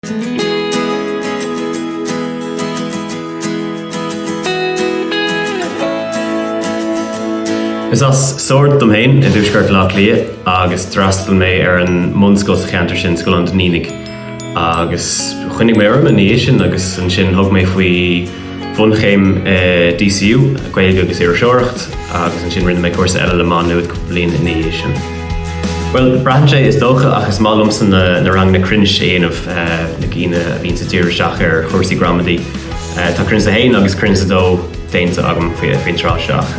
Is as Sord dom féin i dtuaisceart Bhaile Átha Cliath agus d'fhreastail mé ar an mbunscoil sa cheantar sin, Scoil an Duinnínigh, agus choinnigh mé orm ina dhiaidh sin agus ansin thug mé faoi bhunchéim i DCU, Gaeilge agus Iriseoireacht, agus ansin rinne mé cúrsa eile le Má Nuad cúpla bliain ina dhiaidh sin. Bhuel, braitheann sé is dócha ach is maith liomsa na ranganna cruinnis a dhéanamh na cinn a bhíonns ag díriú isteach ar chúrsaí gramadaí. Tá cruinneas a haon agus cruinneas a dó déanta agam faoin tráth seo ach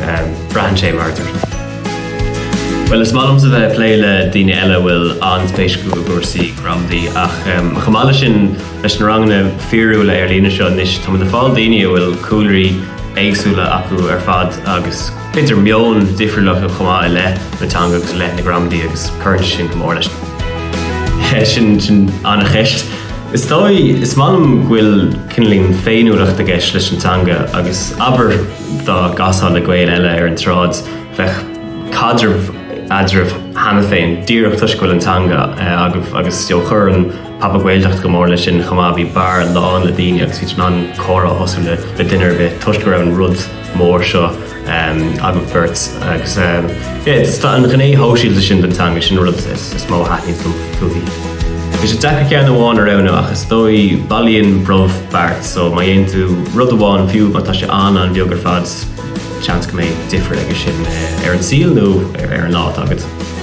braitheann sé, mar a dúirt mé. Bhuel, is maith liomsa bheith ag plé le daoine eile a bhfuil an-spéis acu i gcúrsaí gramadaí ach chomh maith leis sin, Leis na ranganna fíorúla ar líne seo anois, tá muid ag fáil daoine a bhfuil cúlraí éagsúla acu ar fad agus b'fhéidir meon difriúil acu chomh maith i leith na teanga agus i leith na gramadaí agus cuireann sé sin go mór leis na. Sin, sin an-cheist. Is dóigh, is maith liom go bhfuil cineálín féiniúlacht i gceist leis an teanga agus abair dá gcasfá le Gael eile ar an tsráid bheadh caidreamh eadraibh cheana féin díreach toisc go bhfuil an teanga agaibh agus, you know, chuireann pop-up Ghaeltacht go mór leis sin chomh maith, bhí beár lán le daoine agus bhí tú in ann comhrá a thosú le duine ar bith toisc go raibh an rud mór seo agaibh beirt. Agus tá an ghné shóisialta sin den teanga, sin an rud is mó a thaitníonn liom fúithi. Bhí sé deacair ceann amháin a roghnú ach is dóigh bailíonn brobh beart so má dhéanann tú rud amháin fiú má tá sé an-an-bheag ar fad seans go mbeidh difear aige sin ar an saol nó ar an lá atá agat.